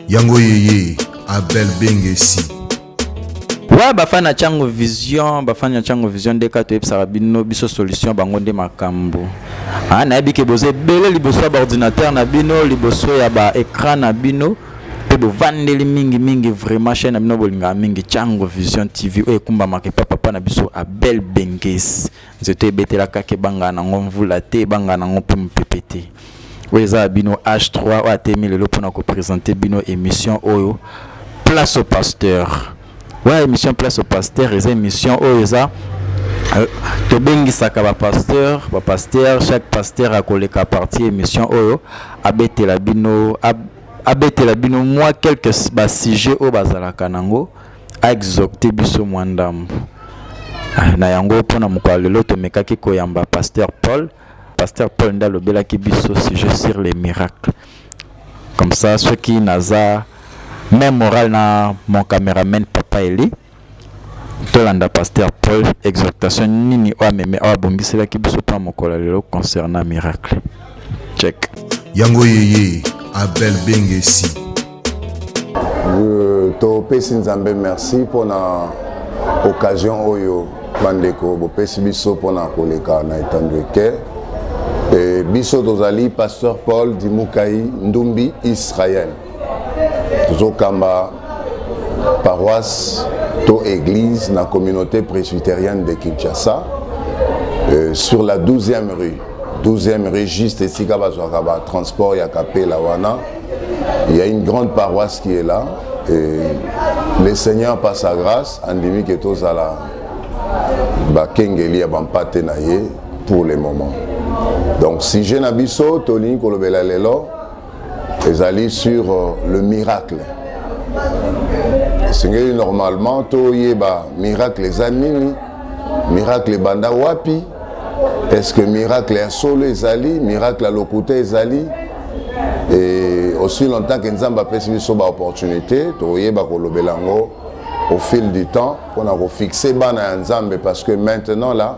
yango yeye abel bengesi wa bafani na chango vision bafani na chango vision nde kaka toyebisaka bino biso solution bango nde makambo ah, nayebi ke boza ebele liboso ya baordinateur na bino liboso ya baecran na bino mpe bovandeli mingi mingi vraiment chaine na bino bolingaka mingi chango vision tv oyo ekumbamaka epa papa na biso abel benges nzoto ebetelaka ke ebangaka nango mvula te ebangaka nango mpe mopepe te oyo eza ya bino h3 oyo atemi lelo mpo na kopresente bino émission oyo place au pasteur wana émission place au pasteur eza émission oyo eza euh, tobengisaka bapasteur bapasteur chaque pasteur akoleka partie émission oyo abetela bino abetela bino mwa quelques basujet oyo bazalaka nango aexocte biso mwa ndambo ah, na yango mpo na mokolo lelo tomekaki koyamba pasteur paul pasteur paul nde alobelaki biso sujet sur les miracles comme ça soki naza même moral na mon cameraman papa eli tolanda pasteur paul exhortation nini oyo ameme oyo abongiselaki biso mpo na mokolo lelo concernant miracle Check. Yango yeye Abel Bengesi. Euh, topesi nzambe merci mpo na occasion oyo bandeko bopesi biso mpo na koleka na etando eke e biso tozali pasteur paul dimukai ndumbi israel tozokamba paroisse to église na communauté presbytérienne de kinshasa euh, sur la 12e rue 12e rue juste esika bazwaka batransport ya kapela wana il y a une grande paroisse qui est là et le seigneur par sa grâce andimi ke tozala bakengeli ya bampate na ye pour le moment donc sujet na biso tolingi kolobela lelo ezali sur euh, le miracle esengeli normalement toyeba miracle eza nini miracle ebanda wapi est ce que miracle ya solo ezali miracle ya lokuta ezali et aussi longtemps que nzambe apesi biso baopportunité tokoyeba kolobela yango au fil du temps mpona kofixe bana ya nzambe parce que maintenant là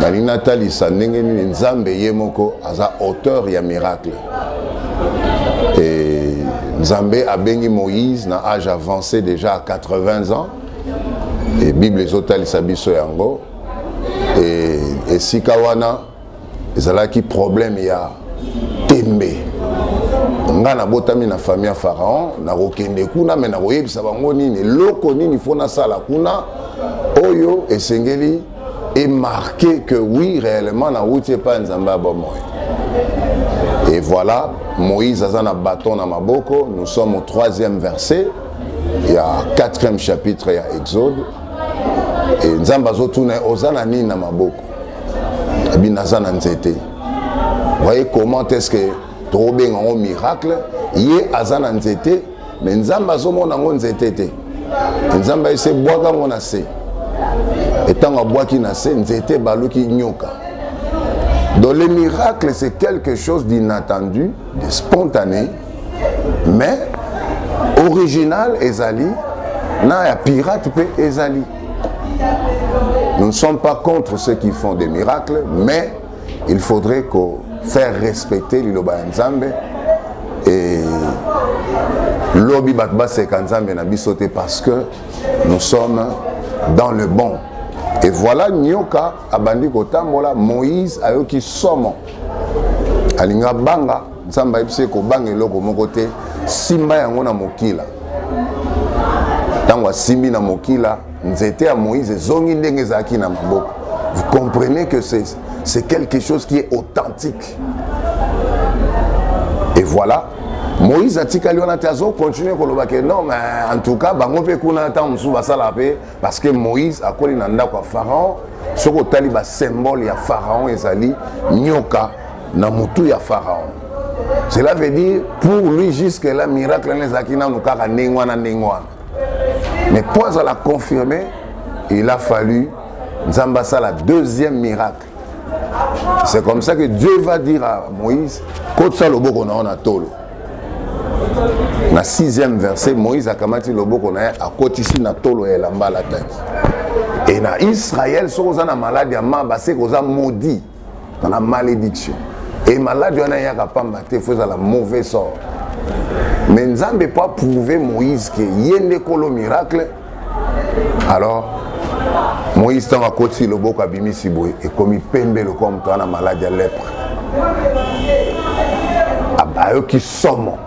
nalingi natalisa ndenge nini nzambe ye moko aza auteur ya miracle e nzambe abengi moïse na age avancé déjà à 80 ans e bible ezotalisa biso yango e esika wana ezalaki problème ya tembe ngai nabotami na famille ya pharaon nakokende kuna me nakoyebisa bango nini eloko nini fo nasala kuna oyo esengeli emarke que oui réellement nawuti epai ya nzambe ya bomoi et voilà moïse aza na bâton na maboko nous sommes au troisième verset ya quatrième chapitre ya exode e nzambe azotuna oza na nini na maboko ebi naza na nzete voyez comment est ce que tokobenga yango miracle ye aza na nzete me nzambe azomona yango nzete te nzambe ayesi ebwaka yango na se etango abwaki na se nzete ebaluki nyoka donc le miracle c'est quelque chose d'inattendu de spontané mais original ezali na ya pirate mpe ezali Nous ne sommes pas contre ceux qui font des miracles, mais il faudrait que faire respecter liloba ya Nzambe et lobi bato baseka Nzambe na biso te parce que nous sommes dans le bon. Et voilà nyoka abandi kotambola Moïse ayoki somo alinga banga Nzambe ayebisi ye kobanga eloko moko te, simba yango na mokila. Ntango asimbi na mokila, nzete ya Moïse ezongi ndenge ezalaki na maboko. Vous comprenez que c'est quelque chose qui est authentique. Et voilà, moïse atikali wana te azokontinue koloba ke non mais en tout cas bango mpe kuna ntango mosusu basala mpe parce que moïse akoli na ndako ya pharaon soki otali basymbole ya pharaon ezali nyoka na mutu ya pharaon cela veut dire pour lui jusque là miracle wana ezalaki nanu kaka ndenge wana ndenge wana mais mpo azala confirme il a fallu nzambe asala deuxième miracle c'est comme ça que dieu va dire à moïse kotisa loboko na yo na tolo na sixième verset moïse akamati loboko na ye akotisi na tolo ya elamba alataki e na israele soki oza na maladi ya maba seke oza maudit na malédiction e maladi wana eyaka pamba te fo ezala mauvais sort mais nzambe mpo aprouve moïse ke ye nde kolo miracle alors moïse ntango akoti loboko abimisi boye ekomi pembe lokola moto wana maladi ya lepre ayoki somo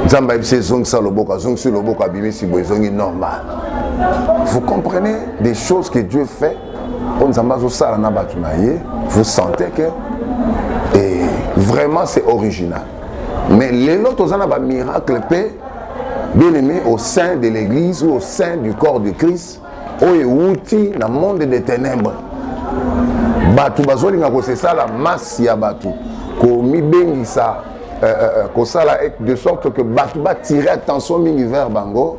nzambe ayebisi ezongisa loboko azongisi loboko abimisi boye ezongi normal vous comprenez des choses que dieu fait oyo nzambe azosala na bato na ye vous sentez que et eh, vraiment c'est original mais lelo toza na bamiracle mpe bien aimé au sein de l'église ou au sein du corps de christ oyo ewuti na monde de ténèbres bato bazolinga kosesala masse ya bato komibengisa euh, euh, euh, kosala de sorte que bato batire attention mingi vers bango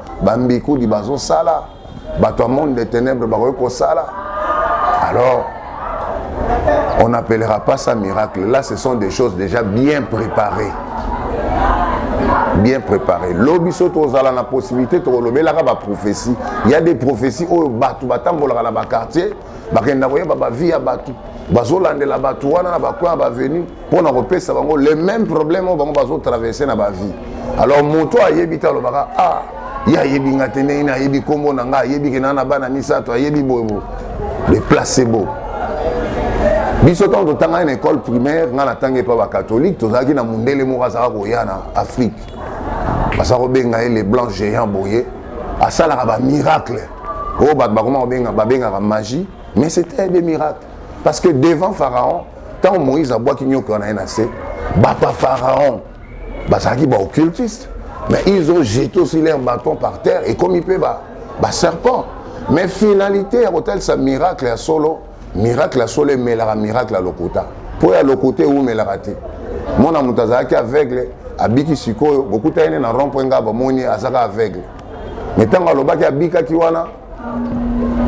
bambikudi bazosala bato ya monde de ténèbre bakoki kosala alors on n'appellera pas ça miracle là ce sont des choses déjà bien préparées bien préparé lobi so tozala na possibilité tokolobelaka baprophétie ya des prophétie oyo bato batambolaka na baquartier bakenda koyeba bavie ya bato bazolandela bato wana na bakoin ya bavenu mpo na kopesa bango le même problème oyo bango bazotraverse na bavie alors moto ayebi te alobaka ah ye ayebi nga te ndenge ayebi nkombo na nga ayebi ke naa na bana misato ayebi boyebo le placebo biso ntango totangaki na école primaire ngai natangi epa bakatholike tozalaki na mondele moko azalaka koya na afrique baza kobenga ye le blanc géant boye asalaka bamiracle oyo oh, bato bakoma babengaka magie mais c'était des miracles parce que devant pharaon ntango moïse abwaki nyoka wana ye na se bato ya pharaon bazalaki baoccultiste mais ils ont jeté aussi leur bâton par terre ekomi mpe baserpent mais finalité ya kotalisa miracle ya solo miracle ya solo emelaka miracle ya lokuta mpo ya lokuta ewumelaka te mwana moto azalaki aveugle abiki sikoyo bokutani ne na rond point ngai bamoni azaka aveugle me ntango alobaki abikaki wana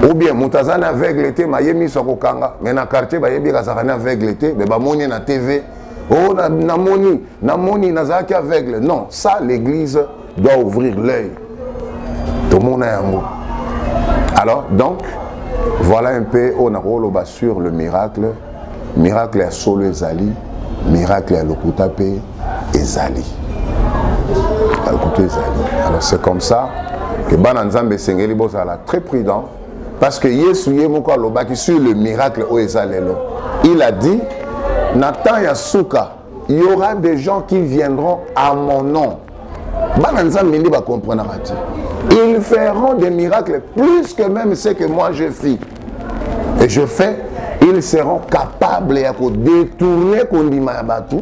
ou bien moto aza na aveugle te maye miso akokanga me na quartier bayebi ekazaka na aveugle te me bamoni na tv o oh, namoni namoni nazalaki aveugle non ça l'église doit ouvrir l'œil tomona yango alors donc voilà un peu oyo nakoloba sur le miracle Miracle ya solo ezali, miracle ya lokuta pe ezali. Ya lokuta ezali. Alors c'est comme ça que bana Nzambe esengeli bozala très prudent parce que Yesu ye moko alobaki sur le miracle oyo eza lelo. Il a dit na temps ya suka il y aura des gens qui viendront à mon nom bana nzambe nde bacomprenaka te ils feront des miracles plus que même ce que moi je fis et je fais ils seront capables ya kodetourne kondima ya bato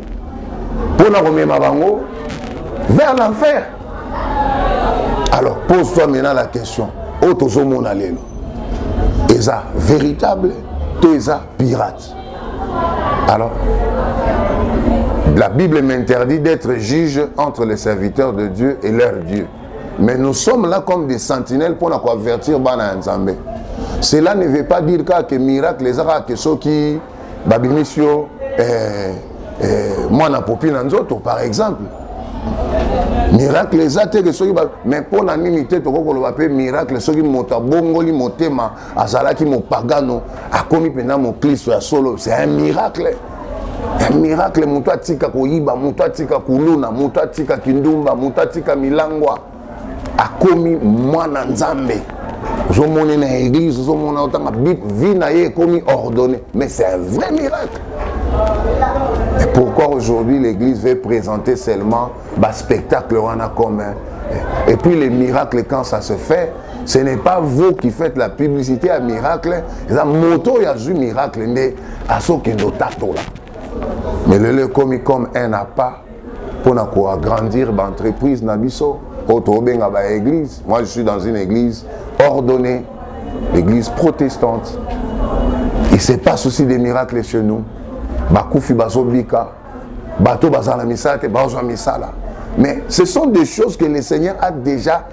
mpo na komema bango vers l'enfer alors pose toi maintenant la question oyo tozomona lelo eza véritable to eza pirate Alors, la Bible m'interdit d'être juge entre les serviteurs de Dieu et leur Dieu. Mais nous sommes là comme des sentinelles pour avertir Bana Nzambe. Cela ne veut pas dire que miracle les que ceux qui babimisio eh, eh, moi na popi na nzoto par exemple. Miracle les te que ceux qui mais pour la nini te toko koloba pe miracle ceux qui mota bongoli motema azalaki mopagano akomi mpenza moklisto ya solo c'est un miracle ya miracle moto atika koyiba moto atika kuluna moto atika kindumba moto atika milangwa akomi mwana nzambe ozomone na église ozomona otanga vie na ye ekomi ordonné mais c'est un vrai miracle et pourquoi aujourd'hui l'église veut présenter seulement baspectacle wana comme et puis les miracles quand ça se fait ce n'est pas vous qui faites la publicité ya miracle eza moto oyo azwi miracle nde azokende otatola mais lelo ekomi comme un appât mpo na koagrandir baentreprise na biso oyo tokobenga baeglise moi je suis dans une église ordonnée l'église protestante il se passe aussi des miracles chez nous bakufi bazobika bato bazala na misala te bazwa misala mais ce sont des choses que le seigneur a déjà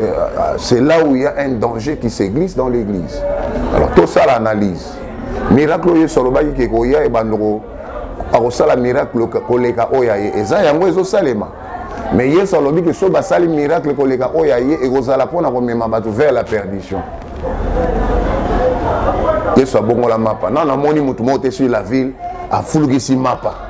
Euh, euh, c'est là où il y a un danger qui se glisse dans l'église. Alors tout ça l'analyse. Miracle oyo solobaki ke koya e bandoko akosala miracle koleka oyo aye eza yango ezosalema me yesu alobi ke soki basali miracle koleka oyo aye ekozala mpo na komema bato vers la perdition yesu abongola mapa nano amoni moto moko te sur la ville afulukisi mapa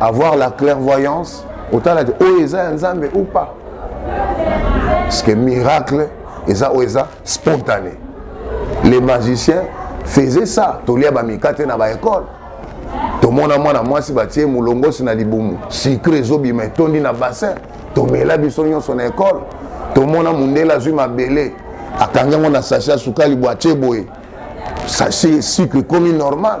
avoir la clairvoyance otala te oyo eza ya nzambe ou pas parce que miracle eza oyo eza spontané les magiciens faisaient ça tolia bamikate na baekole tomona mwana mwasi batie molongosi na libumu sucre ezobima etondi na bassin tomela biso nyonso na ekole tomona mondele azwi mabele akangi yango na sache ya sukali bwatie boye sache sucre ekomi normal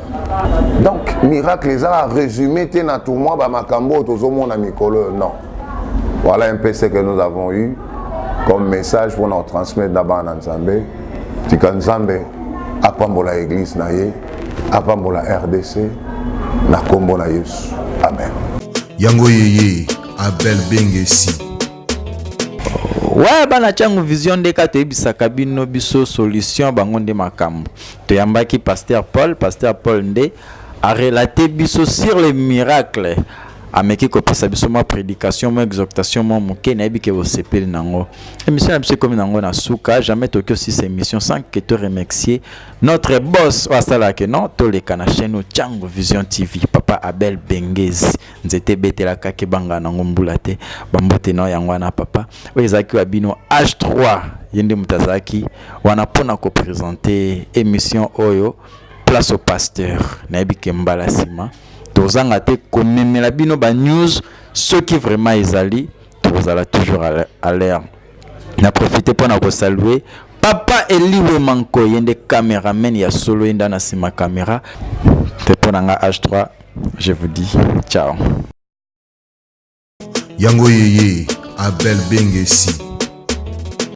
donc miracle eza résumé te na tout moi bamakambo oyo tozomona mikolo non voilà un peu ce que nous avons eu comme message mpona kotransmettre na bana na nzambe tika nzambe apambola église na ye apambola rdc na nkombo na yesu amen yango yeye abel bengesi waya bana ntango vision nde kaka toyebisaka bino biso solution bango nde makambo Toyambaki Pasteur Paul, Pasteur Paul nde a relater biso sur les miracles ameki kopesa biso mwa prédication mwa exhortation mwa moke nayebi ke bosepeli na yango émission na biso ekomi na yango na suka jamais toki osisa émission sans que to remercier notre boss oyo asalaka no toleka na chaîne oyo cango vision tv papa abel bengezi nzete ebetelaka kebanga nango mbula te bambote nao yango wana papa oyo ezalaki wa bino h3 ye nde moto azalaki wana mpo na kopresente émission oyo place au pasteur nayebi ke mbala nsima tozanga te komemela bino banews soki vraiment ezali tokozala toujours à l'air na profite mpo na kosalue papa eliwe manko ye nde cameraman ya solo ye nde na nsima camera te mpo na nga h3 je vous dis ciao yango yeye abel bengesi